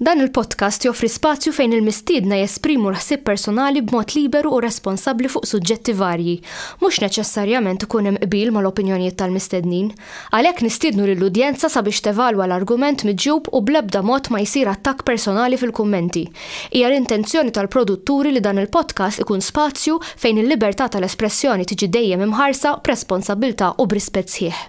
Dan il-podcast joffri spazju fejn il-mistiedna jesprimu l-ħsieb personali b'mod liberu u responsabbli fuq suġġetti varji. Mhux neċessarjament ikun hemm qbil mal-opinjonijiet tal-mistednin. Għalhekk nistiednu lill-udjenza sabiex tevalwa l-argument miġjub u bl-ebda mod ma jsir attakk personali fil-kummenti. Hija l-intenzjoni tal-produtturi li dan il-podcast ikun spazju fejn il-libertà tal-espressjoni tiġi dejjem imħarsa b'responsabbiltà u b'rispett sħiħ.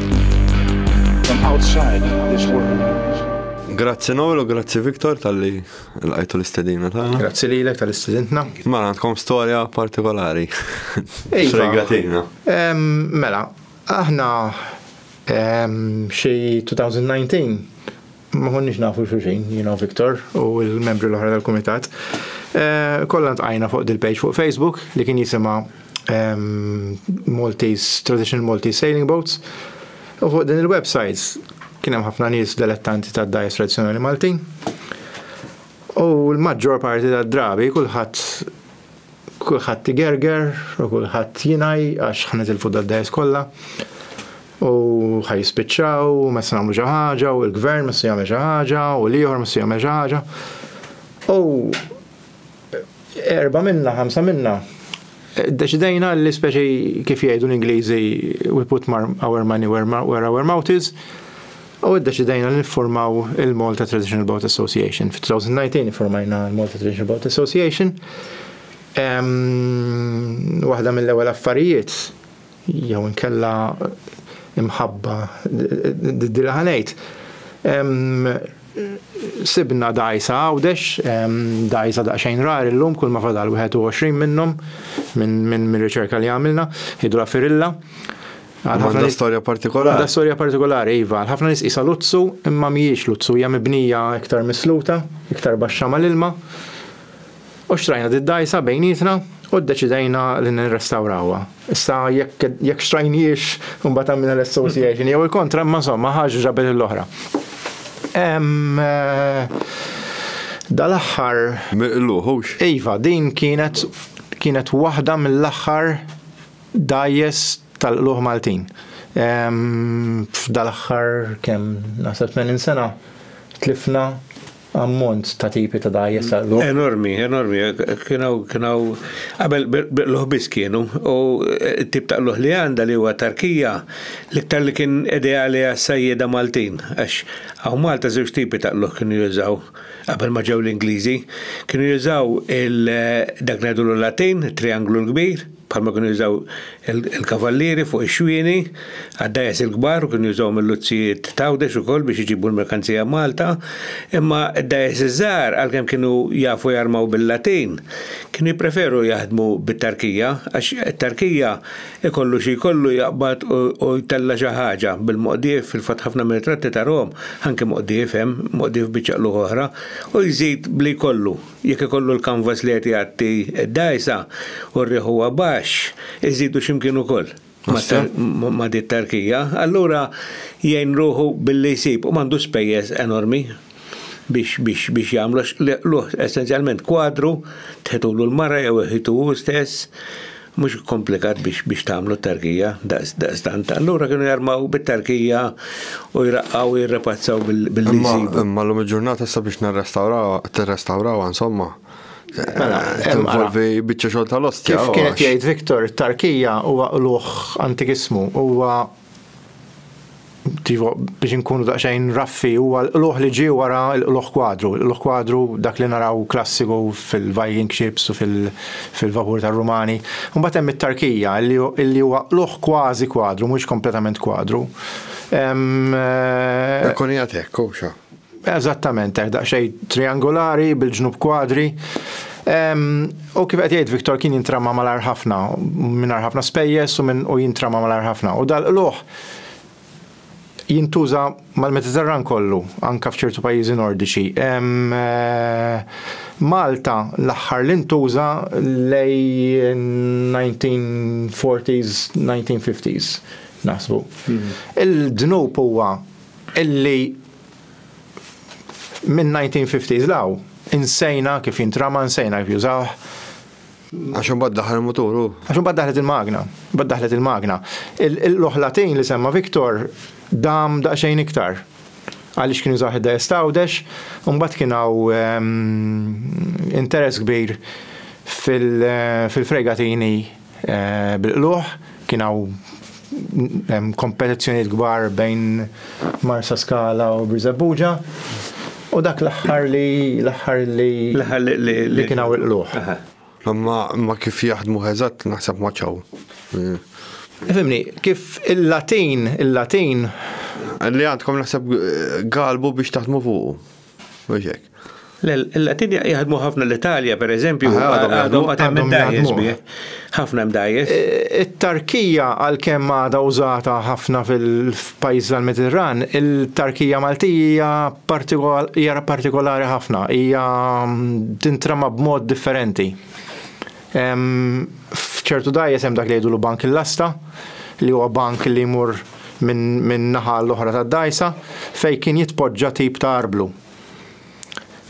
Grazzi Noel u grazzi Viktor tal-li l-għajtu l-istedina ta' Grazzi li l-ek tal-istedina. Mela, għandkom storja partikolari. Fregatina. Mela, aħna xie 2019 Ma konniex nafu xulxin, jina u Viktor u l-membri l-oħra tal-kumitat. Eh, Kollha ntqajna fuq dil-page fuq Facebook li kien jisima ehm, Maltese, Traditional Maltese Sailing Boats. U fuq din il-websites kien hemm ħafna nies delettanti tad-dajes tradizzjonali Maltin. U l-maġġor parti tad-drabi kulħadd Kulħadd igerger u kulħadd jingħi għax ħa nitilfu dad-dgħajjes kollha u ħa jispiċċaw u mhessi nagħmlu xi ħaġa u l-gvern mhessi jagħmel xi ħaġa u l-ieħor mhessi jagħmel xi ħaġa. U erba' minna, ħamsa minna Deċidejna li speċi kif jgħidu l-Ingliżi we put our money where our mouth is, U ddeċidejna li niffurmaw il-Malta Traditional Boat Association. Fit-2019 iffurmajna l-Malta Traditional Boat Association. Waħda mill-ewwel affarijiet jew inkella imħabba didila ħanejt. Sibna dajsa għawdex, dajsa daqsxejn rar illum kull ma fadal 21 minnhom minn riċerka li għamilna, hidrofirilla. Għandha storja partikolari. Għandha storja partikolari, iva. Ħafna nies qisha luzzu, imma mhijiex luzzu, hija mibnija iktar misluta, iktar baxxa mal-ilma. U xtrajna did-dgħajsa bejnietna u ddeċidejna li nirrestawrawha. Issa jekk jekk xtrajniex imbagħad għamilna l-association jew il-kontra, imma insomma ħaġa ġabet l-oħra. Eh, dal-aħħar. Miqluħux. Iva, din kienet kienet waħda mill-aħħar Dgħajjes tal-qlugħ Maltin. F'dal-aħħar kemm, naħseb 80 sena, tlifna ammont ta' tipi ta' dgħajjes tal-qlugħ. Enormi, enormi. Kien hawn qabel qlugħ biss kienu u t-tip ta' qlugħ li għandha li huwa tarkija l-iktar li kien ideali għas-sajjieda Maltin għax hawn Malta żewġ tipi ta' qlugħ kienu jużaw qabel ma ġew l-Ingliżi. Kienu jużaw dak li ngħidulu l-Latin, it-trianglu l-kbir, bħalma kienu jużaw il-kavallieri fuq ix-xwieni għad-dajes il-kbar u kienu jużawhom il-luzzijiet t'Għawdex ukoll biex iġibu l-merkanzija Malta, imma d-dajes iż-żgħar għalkemm kienu jafu jarmaw bil-latin, kienu jippreferu jaħdmu bit-tarkija għax it-tarkija ikollu xi jkollu jaqbad u jtella' xi ħaġa bil-moqdiev, fil-fatt ħafna mir-ritratti tarahom anke moqdiev hemm, moqdiev bi ċaqlugħ oħra, u jżid b'li jkollu. Jekk ikollu l-kanvas li qed jgħatti d-dgħajsa u r-riħ huwa baxx, iżidu xi mkien ukoll ma' di t-tarkija, allura jgħin ruħu billi jsib u m'għandu spejjeż enormi biex jagħmlu għax hu essenzjalment kwadru, tħitulu l-mara jew iħitu hu stess, mhux komplikat biex tagħmlu tarkija daqstant. Allura kienu jarmaw bit-tarkija u jraqqaw u jirrepazzaw bil-lisibu. Imma l-lum il-ġurnata sa biex nirrestawraw, tirrestawraw, insomma. Mela, eh, involvi biċċa xogħol tal-ostja. Kif kienet jgħid Viktor, tarkija huwa qluħ antikismu, huwa Tivo, biex inkunu daqsxejn raffi, huwa l-qluħ li ġie wara l-qluħ kwadru. L-qluħ kwadru dak li naraw klassiku fil-Viking ships u fil-vapur tar-Rumani. Mbagħad hemm it-tarkija li huwa qluħ kważi kwadru, mhux kompletament kwadru. Ekkoni għad hekk, Eżattament hekk, daqsxejn triangolari bil-ġnub kwadri. U kif qed jgħid Victor kien jintrama malar ħafna, mingħajr ħafna spejjeż u minn u jintrama malar ħafna. U dal-qluħ jintuża mal-Mediterran kollu, anke f'ċertu pajjiżi Nordiċi. Malta l-aħħar li ntuża lej 1940s, 1950s naħsbu. Il-dnub huwa illi Min-1950s 'l hawn, insejna kif jintrama, nsejna kif jużawh. Għax imbagħad daħal il-mutur hu. Għax imbagħad daħlet il-magna. Imbagħad daħlet il-magna. Il-loħlatin li semma Victor dam daqsxejn iktar. Għaliex kien jużawh id-dgħajjes t'Għawdex, u mbagħad kien hawn ehm, interess kbir fil-fregatini Bil-qlugħ kien hawn kompetizzjonijiet kbar bejn Marsaskala u Birżebbuġa u dak l-aħħar li l-aħħar li li kien hawn il-qlugħ. Imma imma kif jaħdmu eżatt naħseb ma ċaw. Fimni, kif il-Latin, il-Latin. Li għandkom naħseb galbu biex taħdmu fuqu. Mhux hekk. Le, l-Latin jaħdmu ħafna l-Italja, per eżempju, għadhom għadhom imdajjes bih. Ħafna imdajjes. E, It-tarkija għalkemm għadha użata ħafna fil-pajjiż tal-Mediterran, il-tarkija Maltija hija partikolari ħafna, hija mm, tintrama b'mod differenti. F'ċertu dgħajjes hemm dak li jgħidulu bank il-lasta, li huwa bank li jmur minn naħa l-oħra tad-dgħajsa fejn kien jitpoġġa tip ta' arblu.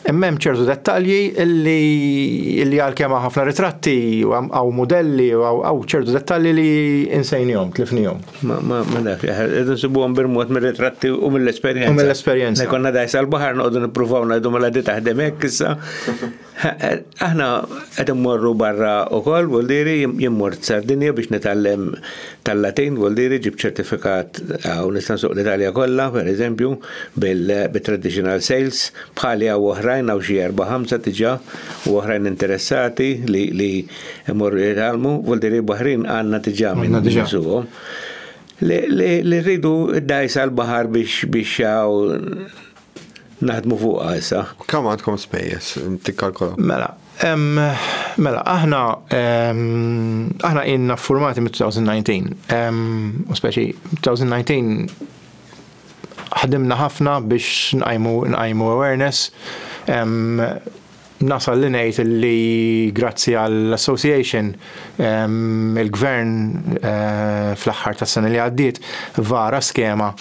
Imma hemm ċertu dettalji li li għalkemm hawn ħafna ritratti u hawn mudelli u hawn ċertu dettalji li insejnihom, tlifnihom. Ma ma ma nafx, qegħdu nsibuhom bil-mod mir-ritratti u mill-esperjenza. U mill-esperjenza. Konna dgħajsa l-baħar noqogħdu nippruvaw ngħidu mela di taħdem hekk issa. Aħna qed immorru barra wkoll vuol diri jimmort Sardinja biex nitgħallem tal-Latin vuol diri ġib ċertifikat hawn nista' nsuq l-Italja kollha pereżempju bit-traditional sales bħali hawn oħrajn hawn xi erba' ħamsa diġà u oħrajn interessati li jmorru jitgħallmu vuol diri baħrin għandna diġà minn nsuqhom li rridu d-dgħajsa l-baħar biex biex naħdmu fuqha issa. Kemm għandkom spejjeż tikkalkolaw? Mela, mela, aħna aħna inna formati mit-2019. U speċi 2019 ħadimna ħafna biex nqajmu nqajmu awareness Nasal li ngħid li grazzi għall-Association, il-Gvern fl-aħħar tas-sena li għaddiet vara skema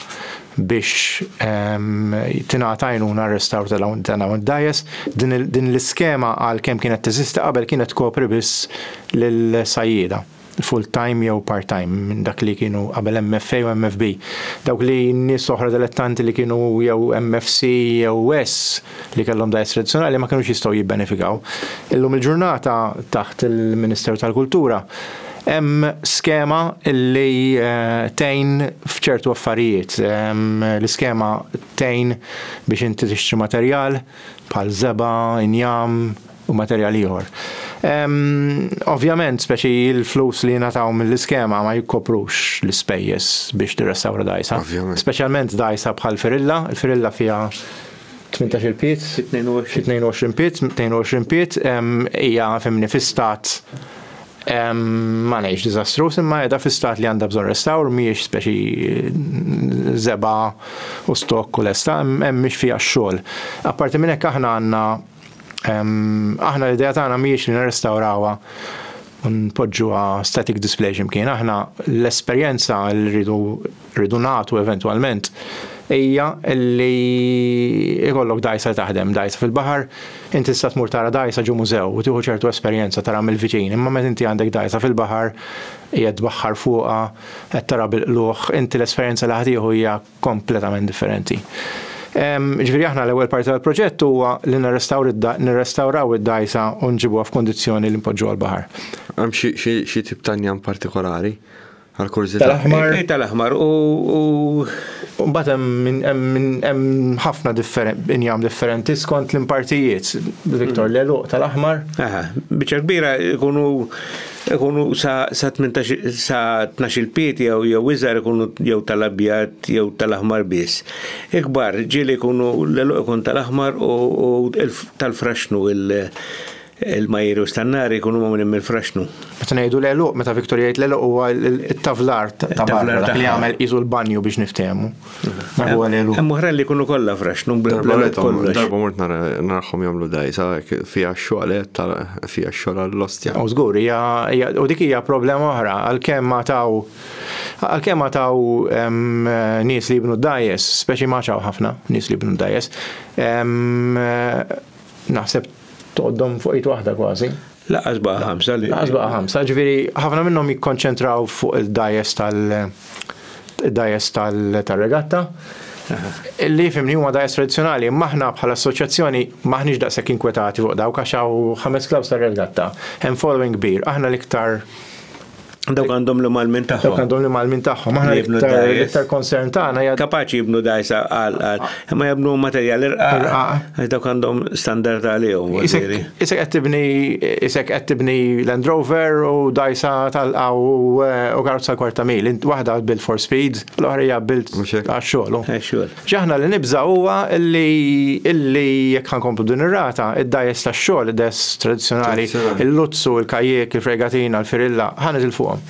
biex tingħata għajnuna għar-restawr ta' dawn id-dgħajjes. Din l-iskema għalkemm kienet teżisti qabel kienet tkopri biss lill-sajjieda. full time jew part time minn dak li kienu qabel MFA u MFB. Dawk li nies oħra dilettanti li kienu jew MFC jew S li kellhom dgħajjes tradizzjonali ma kinux jistgħu jibbenefikaw. Illum il-ġurnata taħt il-Ministeru tal-Kultura hemm skema li tgħin f'ċertu affarijiet. L-iskema tgħin biex inti tixtri materjal bħal żebgħa, injam, u materjal ieħor. Ovvjament, speċi l-flus li jingħataw mill-iskema ma jikkoprux l-ispejjeż biex tirrestawra dgħajsa. Speċjalment dgħajsa bħal firilla, il-firilla fiha 18 piet, 22 piet, 22 piet, hija fimni fi stat ma ngħidx diżastruż imma qiegħda fi stat li għandha bżonn restawr mhijiex speċi żeba' u stokk u lesta, hemm mhix fiha x-xogħol. Apparti minn hekk aħna għandna Aħna l-idea tagħna mhijiex li nirrestawrawha u npoġġuha static display x'imkien. Aħna l-esperjenza li rridu rridu nagħtu eventwalment hija li ikollok dajsa li taħdem, dajsa fil-baħar, inti tista' tmur tara dajsa ġo mużew u tieħu ċertu esperjenza tara mill-viċin, imma meta inti għandek dajsa fil-baħar, qiegħed tbaħħar fuqha, qed tara bil-qlugħ, inti l-esperjenza li ħa tieħu hija kompletament differenti. Ġifieri aħna l-ewwel parti tal-proġett huwa li nirrestawraw id-dgħajsa u nġibuha f'kundizzjoni li npoġġuha l-baħar. Hemm xi tip ta' njam partikolari? Għall-kurżità. Tal-aħmar. Eh, tal-aħmar u. Mbagħad hemm ħafna injam differenti skont l-impartijiet. Victor, l-għeluq tal-aħmar. Aha, biċċa kbira jkunu Ikunu sa sa tnax-il pied jew jew iżgħar ikunu jew tal-abjad jew tal-aħmar biss. Ikbar, ġieli jkunu l-għeluq ikun tal-aħmar u tal-fraxnu il-majjeri u stannari jkunu magħmulin mill-fraxnu. Meta ngħidu l-għeluq, meta Victor jgħid l-għeluq huwa t-tavlar ta' barra, dak li jagħmel qisu l-banju biex niftehmu. Hemm oħra li jkunu kollha fraxnu bl-għalet kollox. Darba mort narħom jagħmlu dajsa fiha x-xogħolet fiha x-xogħol għall-ostja. U żgur hija u dik hija problema oħra għalkemm ma taw għalkemm ma taw nies li jibnu dajes, speċi ma ċaw ħafna nies li jibnu dajes. Naħseb Tgħoddhom fuq id waħda kważi. Laqas baqa' ħamsa li. Laqas baqa' ħamsa, ġifieri ħafna minnhom jikkonċentraw fuq il-dajes tal dajes tal-regatta. Li fimni huma dajes tradizzjonali, imma aħna bħala assoċjazzjoni maħniex daqshekk inkwetati fuq dawk għax hawn ħames klaws tar-regatta. Hemm following kbir, aħna l-iktar Dawk għandhom l-malmin tagħhom. Dawk għandhom l-malmin tagħhom. Aħna l-iktar konsern tagħna hija. Kapaċi jibnu dajsa għal għal. Imma jibnu materjal irqa. Dawk għandhom standard għalihom. Isek qed tibni isek qed tibni Land Rover u dajsa talqa u karozza kwarta mil. Waħda built for speed, l-oħra hija built għax-xogħol. Għax-xogħol. Xi aħna li nibża' huwa li jekk ħa nkomplu b'din ir-rata, id-dgħajjes tax-xogħol, id-dgħajjes tradizzjonali, il-luzzu, il-kajjiek, il-fregatina, l-firilla, ħa nitilfuhom.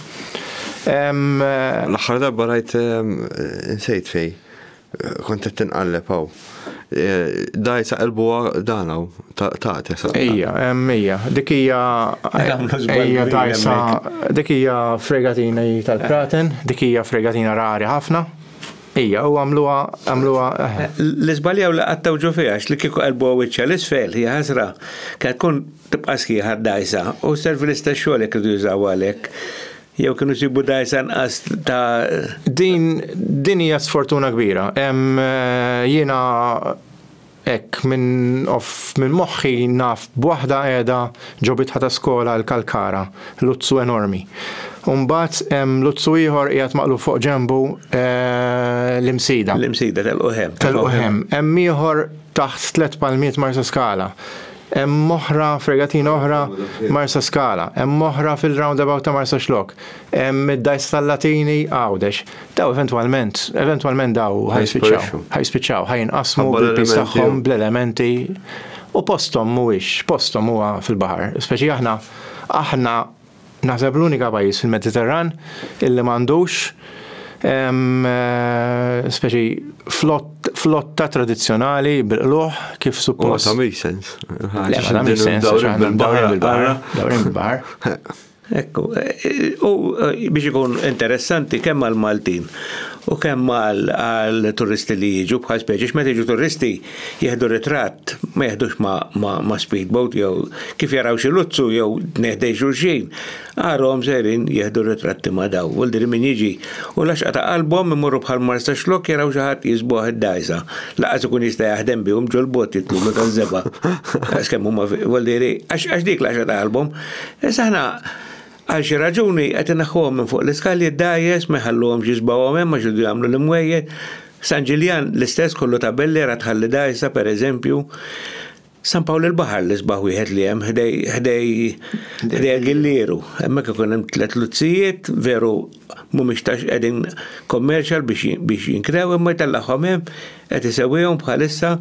L-aħħar darba rajt insejt fej, kont qed tinqalleb hawn. Daj sa qalbuha dan hawn, tagħti sa. Ejja, ejja, dik hija ejja dajsa, dik hija fregatina tal-kraten, dik hija fregatina rari ħafna. Ija, u għamluha, għamluha, eħe. Li żbaljaw li qattgħu ġo fiha għax li kieku qelbuha wiċċha 'l isfel, hija ħasra, kella tkun tibqa' sħiħa, dgħajsa, u sservi l-istess xogħol jekk iridu jużawha għalhekk. Jew kienu jsibu dgħajsa inqas ta'. Din, din hija sfortuna kbira. Hemm, jiena Hekk minn off minn moħħi naf b'waħda qiegħda ġo bitħa ta' skola l-Kalkara, luzzu enormi. U mbagħad hemm luzzu ieħor qiegħed maqlugħ fuq ġenbu l-Imsida. L-Imsida tal-Quħem. Tal-Quħem. Hemm ieħor taħt tliet palmiet Marsaskala. Hemm oħra fregatina oħra Marsaskala. Hemm oħra fil-roundabout ta' Marsaxlokk. Hemm id-dgħajsa tal-Latini Għawdex. Daw eventwalment, eventwalment daw ħajspiċċaw, ħajspiċċaw, ħajinqasmu bil-pis tagħhom bl-elementi u postom mhuwiex, postom huwa fil-baħar. Speċi aħna aħna naħseb l-unika pajjiż fil-Mediterran illi m'għandux ehm, eh, speċi flotta tradizzjonali bil-qluħ kif suppost. Ma ta' make sense. Le, ma ta' make sense, bil-baħar. Bil-baħar. Ekku, u biex ikun interessanti kemm għal Maltin u kemm għal turisti li jiġu bħal speċi x'meta jiġu turisti jieħdu ritratt ma jeħdux ma, ma, ma speedboat jew kif jaraw xi luzzu jew neħdej xulxin. Għarhom sejrin jieħdu ritratti ma daw. U l min jiġi u laxqa ta' qalbhom imorru bħal marsa xlok jaraw xi ħadd jisbuħ id-dajsa. Laqas ikun jista' jaħdem bihom ġol-bot jitlulu taż-żebgħa. Għax kemm huma, għax dik laxqa ta' qalbhom Issa aħna għal xi raġuni qed inaħħuhom minn fuq l-iskalji d-dgħajjes ma jħalluhomx jisbgħuhom hemm għax iridu jagħmlu l-imwejjed. San Ġiljan l-istess kollu ta' belliera tħalli dgħajsa pereżempju. San Pawl il-Baħar l-isbaħ wieħed li hemm ħdej ħdej ħdej Gillieru. Hemmhekk ikun hemm tliet luzzijiet veru Mhumiex tax qegħdin commercial biex jinkrew imma jtellagħhom hemm qed isewwihom bħalissa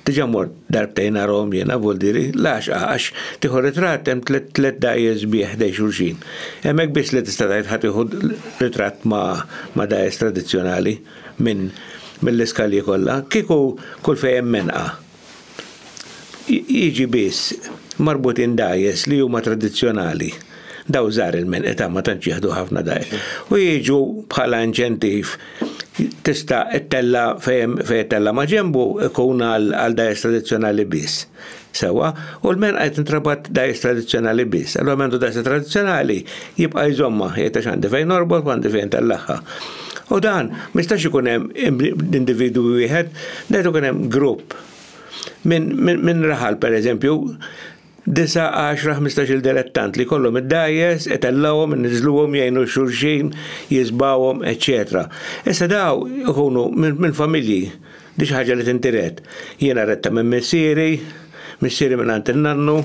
diġà mort darbtejn narahom jiena Voldiri l-għaxqa għax tieħu ritratt hemm tliet dgħajjes sbieħ ħdejn xulxin. Hemm hekk biss li tista' tgħid ħa tieħu ritratt ma' dgħajjes tradizzjonali minn mill-iskalji kollha. Kieku kull fejn hemm menqa jiġi biss marbutin dajes li huma tradizzjonali. Daw żgħar il-men età ma tantx jieħdu ħafna dajes. U jiġu bħala inċentiv tista' ttella fejn fejn tella ma' ġembu ikun għal dajes tradizzjonali biss. Sewa, u l-men qed intrabat dajes tradizzjonali biss. Allura mendu dajes tradizzjonali jibqa' jżomma jgħid għax għandi fejn norbot għandi fejn tellaħħa. U dan, mistax ikun hemm individu wieħed, dan ikun hemm grupp. Minn raħal, per eżempju, 9-10-15 il-delettant li kollhom id-dajes, etellawhom, nizluhom, jgħinu xulxin, jizbawhom, etc. Issa daw ikunu minn familji Di xi ħaġa li tintiret. Jiena rittha minn missieri, missieri mingħand in-nannu,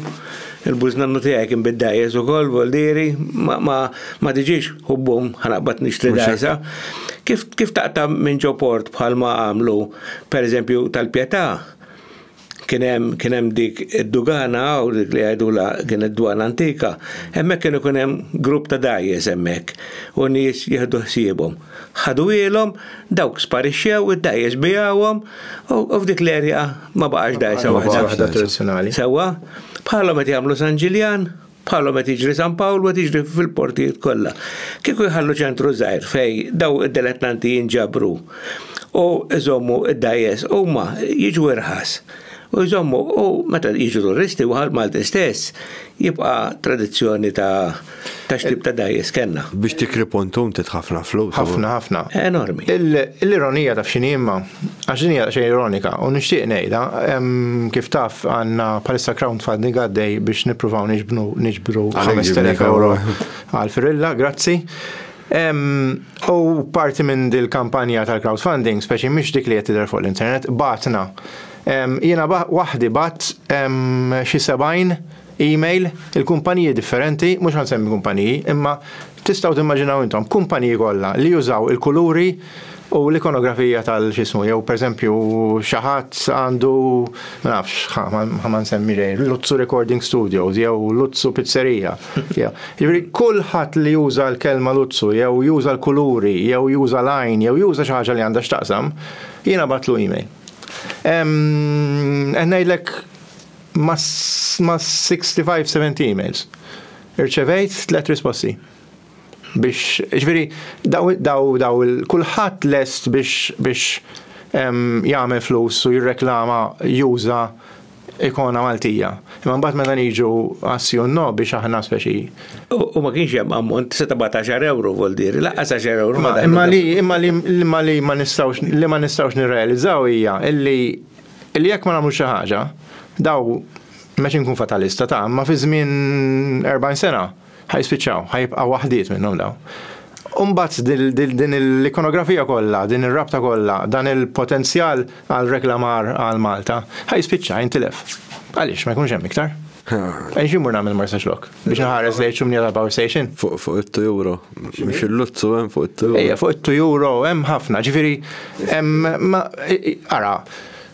il-bużnannu tiegħi kien bid-dgħajjes ukoll, voldieri, ma, ma, ma diġiex hubbum ħa naqbad nixtri dgħajsa. Kif, kif taqta' minn ġo port bħalma għamlu, pereżempju, tal-Pjetà, kien hemm kien hemm dik id-dugana u dik li għajdula kienet dwana antika, hemmhekk kienu kien hemm grupp ta' dajjes hemmhekk u nies jieħdu ħsiebhom. Ħadu ilhom, dawk sparixxew, id-dajjes bijawhom u f'dik l-erja ma baqax dajsa waħda. Waħda tradizzjonali. Sewwa, bħalhom qed jagħmlu San Ġiljan. Bħalhom qed jiġri San Pawl u qed jiġri fil-portijiet kollha. Kieku jħallu ċentru żgħir fej daw id-delettanti jinġabru u jżommu id-dajes huma jiġu irħas u jżommu u meta jiġu turisti u Malti stess jibqa' tradizzjoni ta' ta' xtib ta' dajes kellna. Biex tikri pontum trid ħafna flus. Ħafna ħafna. Enormi. L-ironija taf x'inhi imma? Għax din hija xejn ironika u nixtieq ngħidha kif taf għandna bħalissa crowdfunding għaddej biex nippruvaw niġbnu niġbru 5000 euro għal Firilla, grazzi. U parti minn dil kampanja tal-crowdfunding, speċi mhix dik li qed tidher fuq l-internet, batna. Jiena waħdi bat xi 70 Email, il-kumpaniji differenti, mhux ħa nsemmi kumpaniji, imma tistgħu timmaġinaw intom, kumpaniji kollha li jużaw il-kuluri u l-ikonografija tal-x'ismu, jew pereżempju xi ħadd għandu ma nafx ħa ma nsemmi xejn, Luzzu Recording Studios jew Luzzu Pizzerija. Jiġifieri kulħadd li juża l-kelma Luzzu jew juża l-kuluri jew juża l-għajn jew juża xi ħaġa li għandha x'taqsam, jien għabattlu email. Qed ngħidlek Ma' 65 70 emails. Irċevejt tliet risposti. Biex, ġviri, daw, daw, daw, kulħadd lest biex, biex jagħmel flus u jirreklama juża ikona Maltija. Imma mbagħad meta niġu għassi u no biex aħna speċi. U ma kienx hemm ammont se tibgħat 10 euro vol diri, laqqas 10 euro. Imma li imma li imma li ma nistgħux li ma nistgħux nirrealizzaw hija illi Illi jekk ma nagħmlux xi ħaġa, daw, m'għedx inkun fatalista, ta', imma fi żmien 40 sena ħa jispiċċaw, ħa jibqa' waħdiet minnhom daw. U mbagħad din l-ikonografija kollha, din ir-rabta kollha, dan il-potenzjal għal reklamar għal Malta, ħa jispiċċa, jintilef. Għaliex ma jkunx hemm iktar? Għaliex immur nagħmel Marsaxlokk? Biex nħares lejn ċumnija ta' power station? Fuq fuq it-tujuro. Mhux il-luzzu hemm fuq it-tujuro. Ejja, fuq it-tujuro hemm ħafna, ġifieri hemm ara,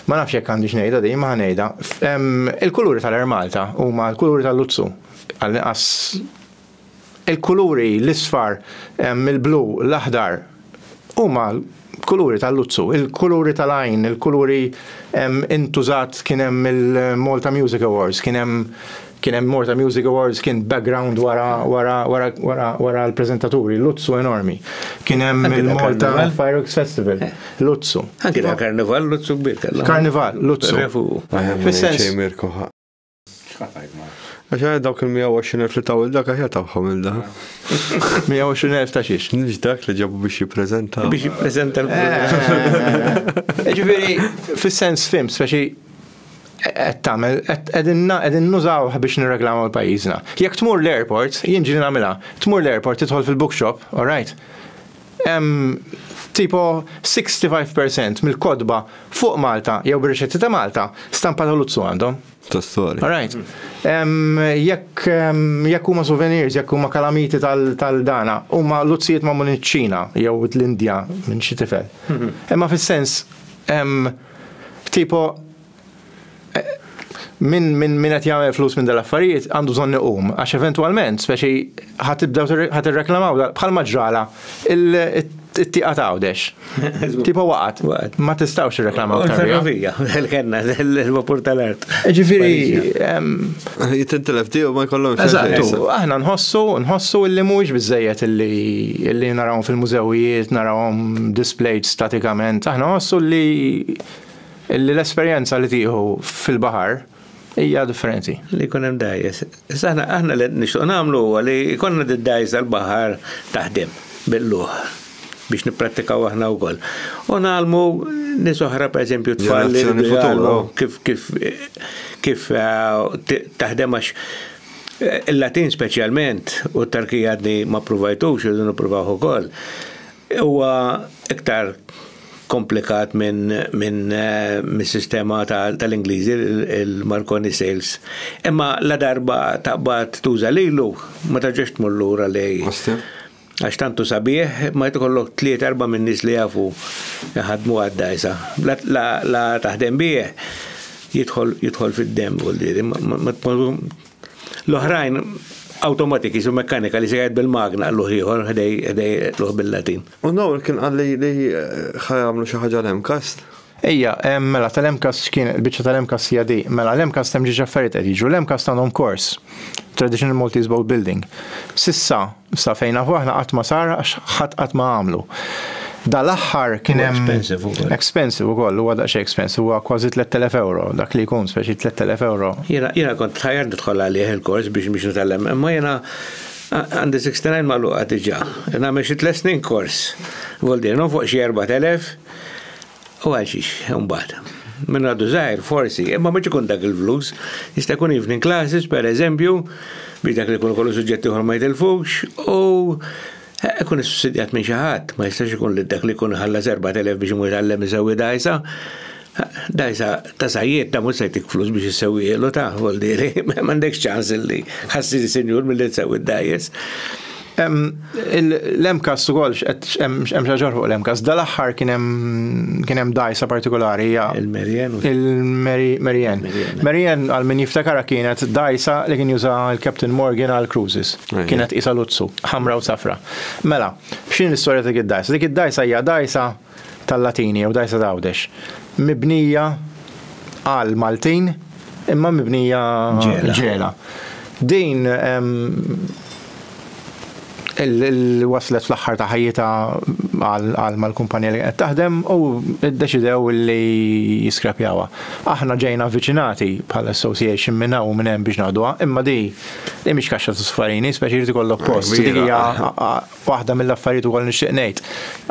ma nafx jekk għandix ngħidha din, ma ngħidha. Il-kuluri tal-Air Malta huma l-kuluri tal-luzzu. Għall-inqas il-kuluri l-isfar, il-blu, l-aħdar, huma kuluri tal-luzzu, il-kuluri tal-għajn, il-kuluri intużat kien hemm il-Malta Music Awards, kien hemm kien hemm Malta Music Awards kien background wara wara wara wara wara l-preżentaturi, luzzu enormi. Kien hemm il-Malta Fireworks Festival, luzzu. Anki da karnival luzzu kbir kellhom. Karnival, luzzu. Fis-sens. Għax għaj dawk il-120.000 li taw il-dak għax tawħom il-da. 120.000 ta' xiex. Nix dak li ġabu biex jiprezenta. Biex jiprezenta l eh. Ġifiri, fil-sens fim, speċi qed tagħmel qegħdin nużaw biex nirreklamu l-pajjiżna. Jekk tmur l-airport, jien ġieli nagħmilha, tmur l-airport tidħol fil-bookshop, all right? Hemm tipo 65 percent mill-kotba fuq Malta jew bir-riċetti ta' Malta stampa ta' Luzzu għandhom. Tostoli. All right. Jekk jekk huma souvenirs, jekk huma kalamiti tal-dana, huma luzzijiet magħmul iċ-Ċina jew l-Indja minn xi tifel. Imma fis-sens tipo min min min qed jagħmel flus minn dal-affarijiet għandu bżonn iqum għax eventwalment speċi ħadd tibdew ħadd irreklamaw bħal maġġrala it-tieqa ta' għawdex. Tipo waqgħet. Ma tistgħux irreklamaw. Ferrovija, kellna l-vapur tal-art. Ġifieri jitintilef tiegħu ma jkollhomx. Eżattu, aħna nħossu, nħossu illi mhuwiex biżejjed illi narawhom fil-mużewijiet, narawhom displayed statikament, aħna nħossu li Illi l-esperjenza li tieħu fil-baħar hija differenti. Li jkun hemm dajjes. Issa aħna aħna li nixtieq nagħmlu huwa li jkollna d-dajjes tal-baħar taħdem bil-luħ biex nipprattikaw aħna wkoll. U nagħlmu nies oħra pereżempju tfal kif kif kif eh, taħdem għax eh, il-Latin speċjalment u t-Tarkija għadni ma provajtux, irridu nippruvaw ukoll. Huwa iktar komplikat minn min, min sistema tal-Ingliżi, il-Marconi Sales. Imma la darba taqbad tuża lilu, ma tarġax tmur lura lej. Għax tantu sabiħ, ma jtikollok tliet erba' minn nies li jafu ħadmu għad-dajsa. La taħdem bih, jidħol fid-dem, L-oħrajn awtomatik jisu mekkanika li se jgħid bil-magna l-uħ ieħor ħdej l-uħ bil-Latin. U Noel kien qal li li ħa jagħmlu xi ħaġa l-MCAST. Ejja, mela tal-MCAST x'kien il-biċċa tal-MCAST hija di. Mela l-MCAST hemm ġiex affarijiet qed jiġru. L-MCAST għandhom kors, Traditional Maltese Boat Building. S'issa, sa fejn nafu aħna qatt ma sar għax ħadd qatt ma għamlu. Dal-aħħar kien hemm. Huwa expensive ukoll. Expensive ukoll, huwa daqsxejn expensive, huwa kważi 3,000 ewro, dak li jkun, speċi 3,000 ewro. Jiena kont tħajjart nidħol għalih il-kors biex biex nitgħallem, imma jiena Għandi 69 magħluqa diġà. Nagħmel xi tliet snin kors. Voldirhom fuq xi 4000 u għal xiex imbagħad. Minn għadu żgħir forsi, imma mhux ikun dak il-flus. Jista' jkun evening classes pereżempju, biex dak li jkun kollu suġġetti ieħor ma jitilfux u eh, ikun issussidjat minn xi ħadd, ma jistax ikun li dak li jkun ħallas 4000 biex imur jitgħallem iżewwi dgħajsa. Da jisa ta' sajjiet ta' mhux se jtik flus biex issewwielu ta' voldieri, m'għandekx ċans li ħassiri sinjur milli tsewwi d-dgħajjes. L-MCAS ukoll x'hemm xi fuq l-MCAS. Dal-aħħar kien hemm dgħajsa partikolari hija il-Merien. Il-Merien. Merien għal min jiftakara kienet dgħajsa li kien juża l-Captain Morgan għal cruises. Kienet isa luzzu, ħamra u safra. Mela, x'in l-istorja ta' dik id-dgħajsa? Dik id-dgħajsa hija dgħajsa tal-Latini jew Dajsa t'Għawdex, mibnija għal Maltin imma mibnija ġela. Din waslet fl-aħħar ta' ħajjitha għal mal-kumpanija li kienet taħdem u ddeċidew li jiskrapjawha. Aħna ġejna avviċinati bħala association minn hawn u minn hemm biex naħduha, imma din hi mhix kaxxa ta' suffarini, speċi jrid ikollok post, dik hija Waħda mill-affarijiet ukoll nixtieq ngħid,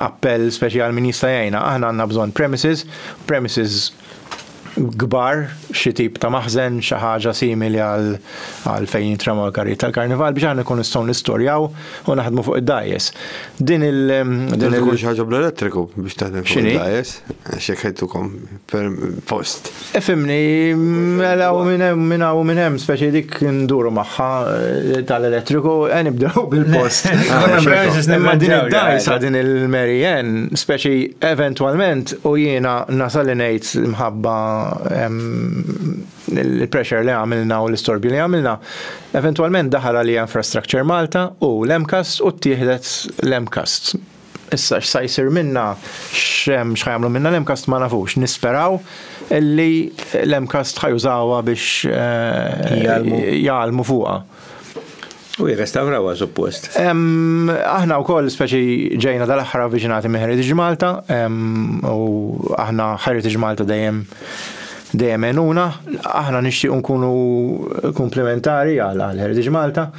appell speċi għal min jista' jgħinna, aħna għandna bżonn premises, premises kbar, xi tip ta' maħżen, xi ħaġa simili għal fejn jintremaw il-karrijiet tal-karnival biex aħna nkunu nistgħu nistorjaw u naħdmu fuq id-dajes. Din il- Din ikun xi ħaġa bl-elettriku biex taħdem fuq id-dajes, xi ħajtukom per post. Efimni, mela u minna u minn hemm speċi dik nduru maħħa eh, tal-elettriku, għen eh, ibdew bil-post. Imma din id-dajsa din il-Mary Ann, speċi eventualment u jiena nasal ngħid mħabba il-pressure li għamilna u l-istorbju li għamilna, eventualment daħal għalija infrastructure Malta u l-MCAST u t-tieħdet l-MCAST Issa x'sa jsir minnha, x'ħa jagħmlu minnha l-MCAST ma nafux. Nisperaw li l-MCAST ħa jużawha biex jgħallmu fuqha. U jirrestavrawha suppost. Aħna wkoll speċi ġejna dal-aħħar avviċinati minn Heritage Malta u aħna Heritage Malta dejjem dejjem għenuna. Aħna nixtiequ nkunu komplementari għal Heritage Malta.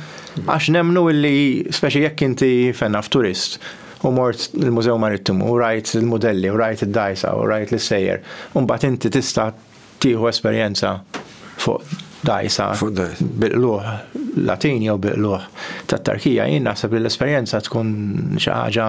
Għax nemmnu illi speċi jekk inti fejn naf turist u mort il-Mużew Marittimu u rajt il-mudelli u rajt id-dgħajsa u rajt l-issejjer u mbagħad inti tista' tieħu esperjenza fuq dgħajsa bi qlugħ Latin jew bi qlugħ tat-Tarkija jien naħseb li l-esperjenza tkun xi ħaġa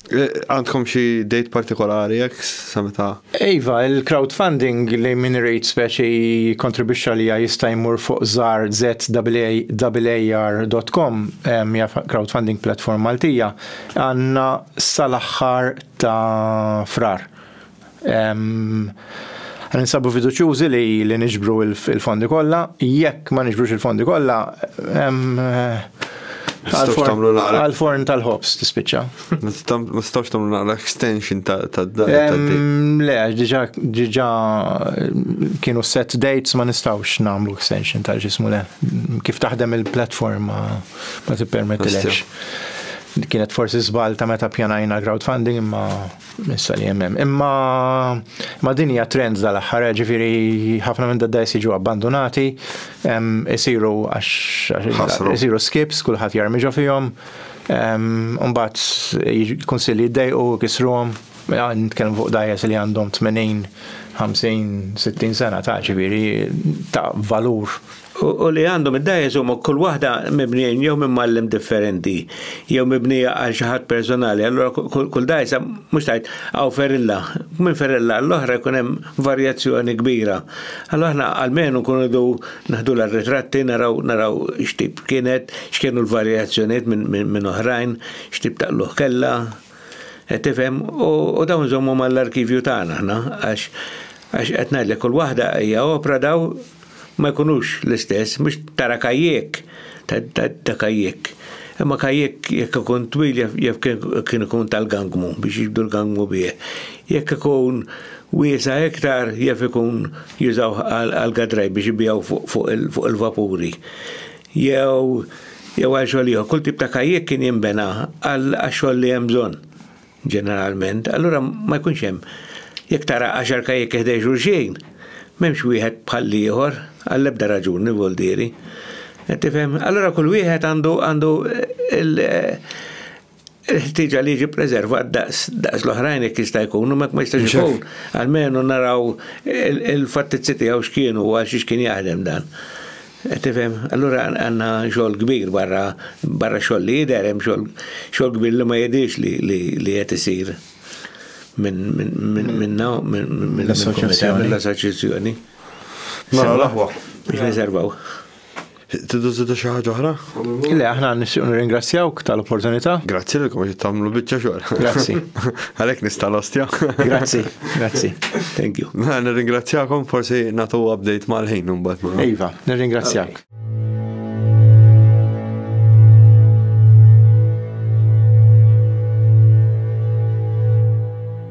Eh, għandkom xi date partikolari jekk sa meta? Iva, il-crowdfunding li minn rejt speċi kontribwixxa li jista' jmur fuq żar zwaar.com hija crowdfunding platform Maltija għandna sal-aħħar ta' frar. Aħna ninsabu fiduċjużi li niġbru l-fondi kollha. Jekk ma niġbrux il-fondi kollha, għall-forn tal-ħobż tispiċċa. Ma tistgħux tagħmlu naqra extension tad-data. Le, diġà kienu set dates ma nistgħux nagħmlu extension ta' ġismu le. Kif taħdem il-platforma ma tippermettilekx. Kienet forsi żball ta' meta pjanajna crowdfunding imma. Issa li hemm hemm. Imma ma din hija trend dal-aħħar, ġifieri ħafna minn dadda jsiġu abbandunati, isiru għax isiru skips, kulħadd jarmi ġo fihom, mbagħad il-kunsilli jdejqu kisruhom, nitkellmu fuq dajes li għandhom 80, 50, 60 sena ta' ġifieri ta' valur u li għandhom id-dajes huma kull waħda mibnijin jew minn mallim differenti, jew mibnija għal xi ħadd personali, allura kull dajsa mhux tajt għaw ferilla, minn ferilla l-oħra jkun hemm varjazzjoni kbira. Allura aħna għalmenu nkunu du naħdu l-ritratti, naraw naraw x'tip kienet, x'kienu l-varjazzjonijiet minn oħrajn, x'tip taqluh kella. Qed tifhem? U dawn nżommu mal-arkivju tagħna aħna għax għax qed ngħidlek kull waħda hija opra daw ma jkunux l-istess, mhux tara kajjek ta' kajjek. Imma kajjek jekk ikun twil jaf kien ikun tal-gangmu biex jibdu l-gangmu bih. Jekk ikun wiesa iktar jaf ikun jużaw għal-gadraj biex ibijaw fuq il-vapuri. jew jew għal xogħol ieħor. Kull tip ta' kajjek kien jinbena għal xogħol li hemm bżonn ġeneralment. Allura ma jkunx hemm jekk tara għaxar kajjek ħdej xulxin, m'hemmx wieħed bħal ieħor għall-ebda raġuni voldieri. Tifhem? Allura kull wieħed għandu għandu eh, il-ħtieġa li jiġi preservat daqs l-oħrajn jekk jista' jkun, u mek ma jistax ikun, għalmenu naraw il-fattizzi tiegħu x'kienu u għal xiex kien jaħdem dan. Eh, tifhem, allura għandna xogħol kbir barra barra xogħol li jidher hemm xogħol kbir li ma jidhirx li qed isir minn minn l-assoċjazzjoni. Mela l-aħwa. Biex niservaw. Tidu zidu xi ħaġa oħra? Le, aħna nixtieq nirringrazzjawk tal-opportunità. Grazzi li qed tagħmlu biċċa xogħol. Grazzi. Għalhekk nista' l-ostja. Grazzi, grazzi. Thank you. Mela, nirringrazzjakom forsi nagħtu update mal-ħin imbagħad. Mela. Iva, nirringrazzjak.